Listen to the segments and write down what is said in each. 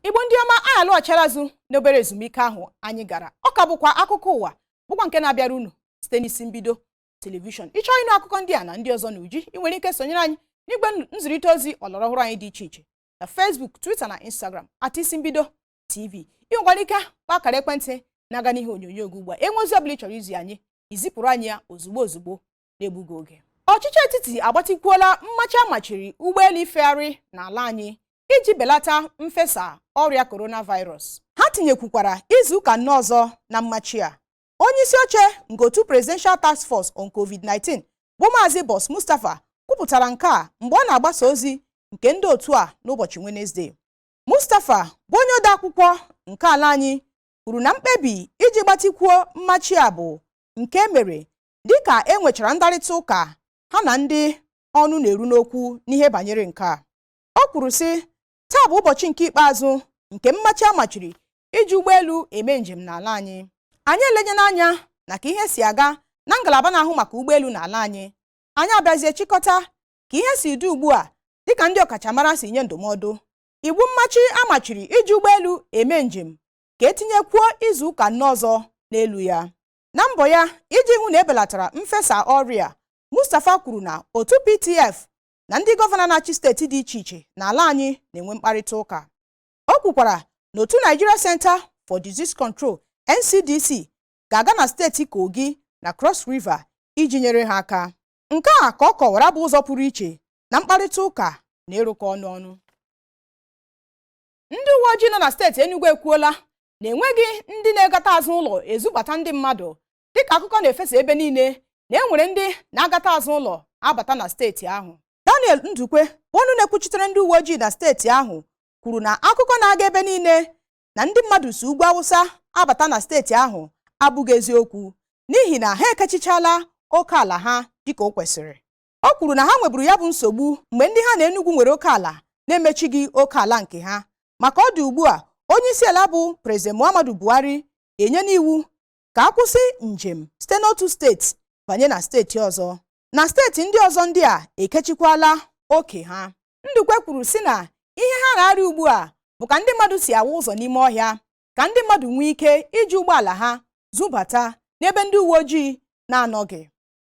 igbo ndị ọma anyị alọghachila azụ n'obere ezumike ahụ anyị gara ọ ka bụkwa akụkọ ụwa bụkwa nke na-abịara unu site n'isi mbido telivishọn ị chọọ ịnụ akụkọ ndị a na ndị ọzọ n'uju ị nwere ike sonyere anyị n'igwe nzirịta ozi ọlọrọ ọhụrụ anyị dị iche iche na Facebook Twitter na Instagram at isi mbido TV ị nwekwara ike kpọọ akara ekwentị na-aga n'ihe onyonyo gị ugbu a e nwee ozi ọbụla ị chọrọ izi anyị i zipụrụ anyị ya ozugbo ozugbo na-egbughị oge ọchịchị etiti agbatịkwuola mmachi a machiri ụgbọelu ifegharị n'ala anyị iji belata mfesa ọrịa coronavirus ha tinyekwukwara izu ụka anọ ọzọ na mmachi a onye isi oche nke otu presidential task force on covid-19 bụ maazị boss mustapha kwupụtara nke a mgbe ọ na-agbasa ozi nke ndị otu a n'ụbọchị wenesde mustapha bụ onye ode akwụkwọ nke ala anyị kwuru na mkpebi iji gbatịkwuo mmachi a bụ nke e mere dịka e nwechara ndarịta ụka ha na ndị ọnụ na-eru n'okwu n'ihe banyere nke a o kwuru sị taa bụ ụbọchị nke ikpeazụ nke mmachi a machiri iji ụgbọelu eme njem n'ala anyị anyị elenyela anya na ka ihe si aga na ngalaba na-ahụ maka ụgbọelu n'ala anyị anyị abịazie chịkọta ka ihe si dị ugbu a dịka ndị ọkachamara si nye ndụmọdụ iwu mmachi a machiri iji ụgbọelu eme njem ka e tinyekwuo izu ụka anọ ọzọ n'elu ya na mbọ ya iji hụ na e belatara mfesa ọrịa Mustapha kwuru na otu PTF na ndị gọvanọ na-achị steeti dị iche iche n'ala anyị na-enwe mkparịta ụka o kwukwara na otu Nigeria Center for Disease Control NCDC ga-aga na steeti Kogi na Cross River iji nyere ha aka nke a ka ọ kọwara bụ ụzọ pụrụ iche na mkparịta ụka na ịrụkọ ọrụ ọnụ ndị uwe ojii nọ na steeti Enugu ekwuola na e nweghị ndị na-agata azụ ụlọ ezubata ndị mmadụ dịka akụkọ na-efesa ebe niile na e nwere ndị na-agata azụ ụlọ abata na steeti ahụ Daniel Ndukwe bụ ọnụ na-ekwuchitere ndị uwe ojii na steeti ahụ kwuru na akụkọ na-aga ebe niile na ndị mmadụ si ugwu awụsa abata na steeti ahụ abụghị eziokwu n'ihi na ha ekechichala oke ala ha dịka o kwesịrị O kwuru na ha nweburu ya bụ nsogbu mgbe ndị ha na Enugu nwere oke ala na-emechighị oke ala nke ha ma ka ọ dị ugbu a onye isi ala bụ Prezident Muhammadu Buhari enyela iwu ka a kwụsị njem site n'otu steeti banye na steeti ọzọ na steeti ndị ọzọ ndị a ekechikwala oke ha Ndukwe kwuru sị na ihe ha na-arịa ugbu a bụ ka ndị mmadụ si awa ụzọ n'ime ọhịa ka ndị mmadụ nwee ike iji ụgbọala ha zubata n'ebe ndị uwe ojii na-anọghị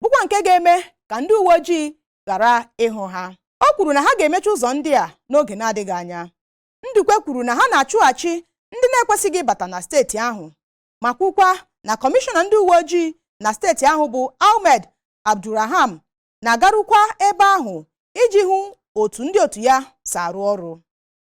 bụkwa nke ga-eme ka ndị uwe ojii ghara ịhụ ha o kwuru na ha ga-emechi ụzọ ndị a n'oge na-adịghị anya Ndukwe kwuru na ha na-achụghachi ndị na-ekwesịghị ịbata na steeti ahụ ma kwukwa na kọmishọna ndị uwe ojii na steeti ahụ bụ Ahmed Abdulrahman na-agarukwa ebe ahụ iji hụ otu ndị otu ya si arụ ọrụ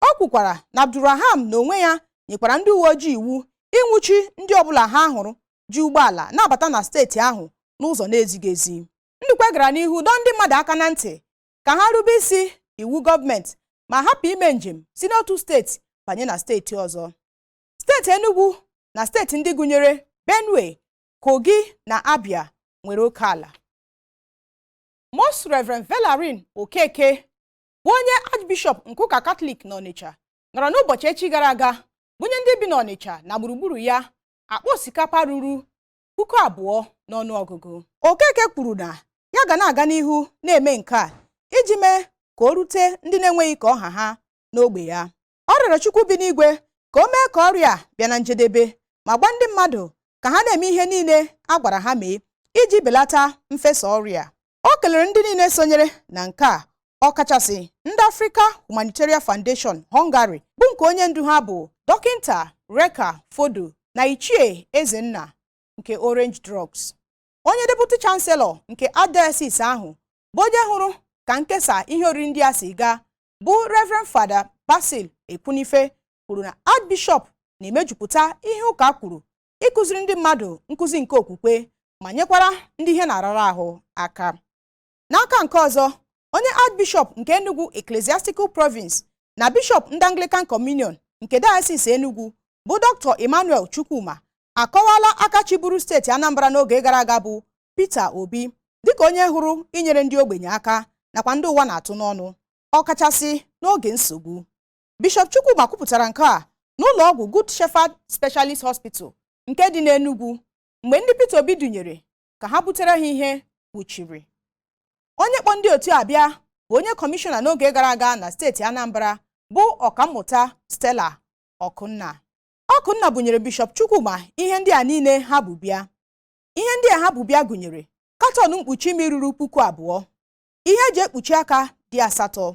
O kwukwara na Abdulrahman na onwe ya nyekwara ndị uwe ojii iwu ịnwụchi ndị ọbụla ha hụrụ ji ụgbọala na-abata na steeti ahụ n'ụzọ na-ezighị ezi. Ndukwe gara n'ihu dọọ ndị mmadụ aka na ntị ka ha rube isi iwu gọọmenti ma hapụ ime njem si n'otu steeti banye na steeti ọzọ. Steeti Enugu na steeti ndị gụnyere Benue, Kogi na Abia nwere oke ala. Most Reverend Valerian Okeke bụ onye Archbishop nke ụka Katọlik n'Ọnịcha nọrọ n'ụbọchị echi gara aga bunye ndị bi n'Ọnịcha na gburugburu ya akpa osikapa ruru puku abụọ n'ọnụ ọgụgụ Okeke kwuru na ya ga na-aga n'ihu na-eme nke a iji mee ka o rute ndị na-enweghị ka ọ ha ha n'ogbe ya ọ rịọrọ Chukwu bi n'igwe ka o mee ka ọrịa a bịa na njedebe ma gwa ndị mmadụ ka ha na-eme ihe niile a gwara ha mee iji belata mfesa ọrịa o kelere ndị niile sonyere na nke a ọkachasị ndị Africa Humanitarian Foundation Hungary bụ nke onye ndu ha bụ dọkịnta Reka Fodor na Ichie Ezenna nke Orange Drugs onye deputy chancellor nke archdiocese ahụ bụ onye hụrụ ka nkesa ihe oriri ndị a si gaa bụ Reverend Father Basil Ekwunife kwuru na Archbishop na-emejupụta ihe ụka kwuru ịkụziri ndị mmadụ nkụzi nke okwukwe ma nyekwara ndị ihe na-arara ahụ aka n'aka nke ọzọ onye Archbishop nke Enugu Ecclesiastical Province na Bishop ndị Anglican Communion nke Diocese Enugu bụ Dr. Emmanuel Chukwuma akọwala aka chịburu steeti Anambra n'oge gara aga bụ Peter Obi dịka onye hụrụ inyere ndị ogbenye aka nakwa ndị ụwa na-atụ n'ọnụ ọkachasị n'oge nsogbu Bishọp Chukwuma kwupụtara nke a n'ụlọ ọgwụ Good Shepherd Specialist Hospital nke dị n'Enugwu mgbe ndị Peter Obi dunyere ka ha butere ha ihe wuchiri onye kpọ ndị otu a bịa bụ onye kọmishọna n'oge gara aga na steeti Anambra bụ ọkammụta Stella Ọkụnna Ọkụnna bunyere Bishọp Chukwuma ihe ndị a niile ha bu bịa ihe ndị a ha bu bịa gụnyere katọn mkpuchi imi ruru puku abụọ ihe eji ekpuchi aka dị asatọ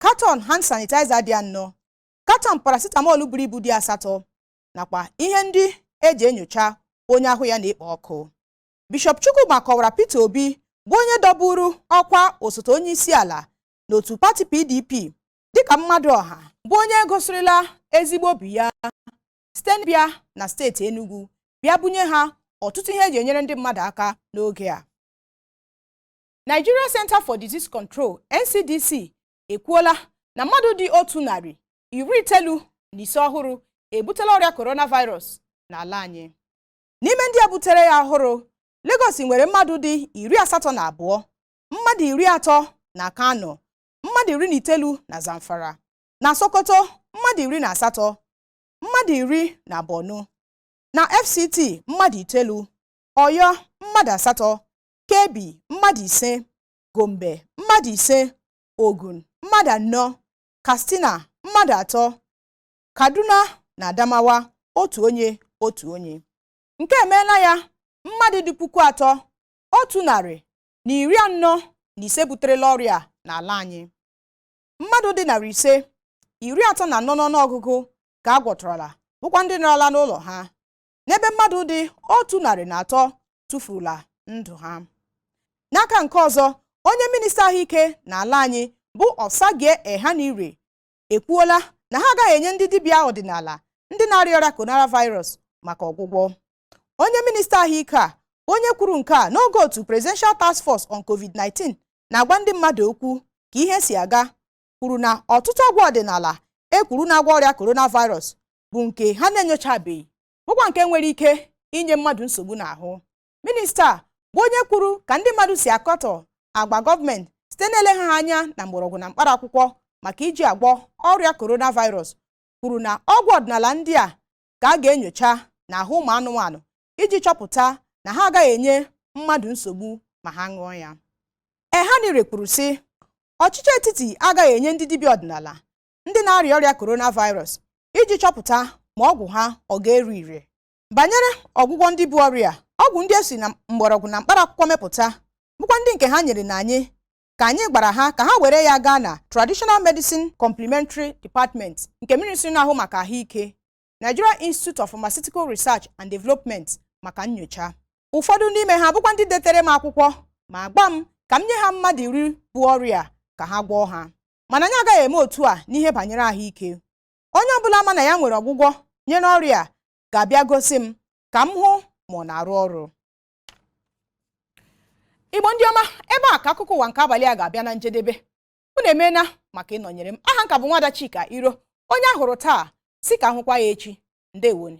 katọn hand sanitizer dị anọ katọn paracetamol buru ibu dị asatọ nakwa ihe ndị eji enyocha onye ahụ ya na-ekpo ọkụ Bishọp Chukwuma kọwara Peter Obi bụ onye dọburu ọkwa osote onye isi ala n'otu pati PDP dịka mmadụ ọha bụ onye gosirila ezigbo obi ya site n'ịbịa na steeti Enugu bịa bunye ha ọtụtụ ihe eji enyere ndị mmadụ aka n'oge a Nigeria Centre for Disease Control NCDC ekwuola na mmadụ dị otu narị iri itoolu na ise ọhụrụ ebutela ọrịa coronavirus n'ala anyị n'ime ndị a butere ya ọhụrụ Lagos nwere mmadụ dị iri asatọ na abụọ mmadụ iri atọ na Kano mmadụ iri na itoolu na Zamfara na Sokoto mmadụ iri na asatọ mmadụ iri na Borno na FCT mmadụ itoolu Ọyọ mmadụ asatọ Kebbi mmadụ ise Gombe mmadụ ise Ogun mmadụ anọ Katsina mmadụ atọ Kaduna na Adamawa otu onye otu onye nke emeela ya mmadụ dị puku atọ otu narị na iri anọ na ise buterela ọrịa n'ala anyị mmadụ dị narị ise iri atọ na anọ n'ọnụọgụgụ ka a gwọtọrọla bụkwa ndị nọrọla n'ụlọ ha n'ebe mmadụ dị otu narị na atọ tụfurula ndụ ha n'aka nke ọzọ onye minista ahụike n'ala anyị bụ Osagie Ehanire ekwuola na ha agaghị enye ndị dibịa ọdịnala ndị na-arịa ọrịa coronavirus maka ọgwụgwọ onye minista ahụike a onye kwuru nke a n'oge otu presidential task force on covid-19 na-agwa ndị mmadụ okwu ka ihe si aga kwuru na ọtụtụ ọgwụ ọdịnala e kwuru na-agwọ ọrịa coronavirus bụ nke ha na-enyochabeghị bụkwa nke nwere ike inye mmadụ nsogbu n'ahụ minista a bụ onye kwuru ka ndị mmadụ si akọtọ agwa gọọmenti site n'eleghara anya na mgbọrọgwụ na mkpara akwụkwọ maka iji agwọ ọrịa coronavirus kwuru na ọgwụ ọdịnala ndị a ka a ga-enyocha n'ahụ ụmụ anụmanụ iji chọpụta na ha agaghị enye mmadụ nsogbu ma ha ṅụọ ya Ehanire kwuru sị ọchịchị etiti agaghị enye ndị dibịa ọdịnala ndị na-arịa ọrịa coronavirus iji chọpụta ma ọgwụ ha ọ ga-ere ire banyere ọgwụgwọ ndị bu ọrịa ọgwụ ndị e si na mgbọrọgwụ na mkpara akwụkwọ mepụta bụkwa ndị nke ha nyerela anyị ka anyị gwara ha ka ha were ya gaa na Traditional Medicine Complementary Department nke ministri na-ahụ maka ahụike Nigeria Institute of Pharmaceutical Research and Development maka nyocha ụfọdụ n'ime ha bụkwa ndị detere m akwụkwọ ma gwa m ka m nye ha mmadụ iri bu ọrịa ka ha gwọọ ha mana anyị agaghị eme otu a n'ihe banyere ahụike onye ọbụla ma na ya nwere ọgwụgwọ nyere ọrịa a ga-abịa gosi m ka m hụ ma ọ na-arụ ọrụ igbo ndị ọma ebe a ka akụkọ ụwa nke abalị a ga-abịa na njedebe unu emeela maka ịnọnyere m aha m ka bụ nwada chika iro onye a hụrụ taa sị ka a hụkwa ya echi ndewonụ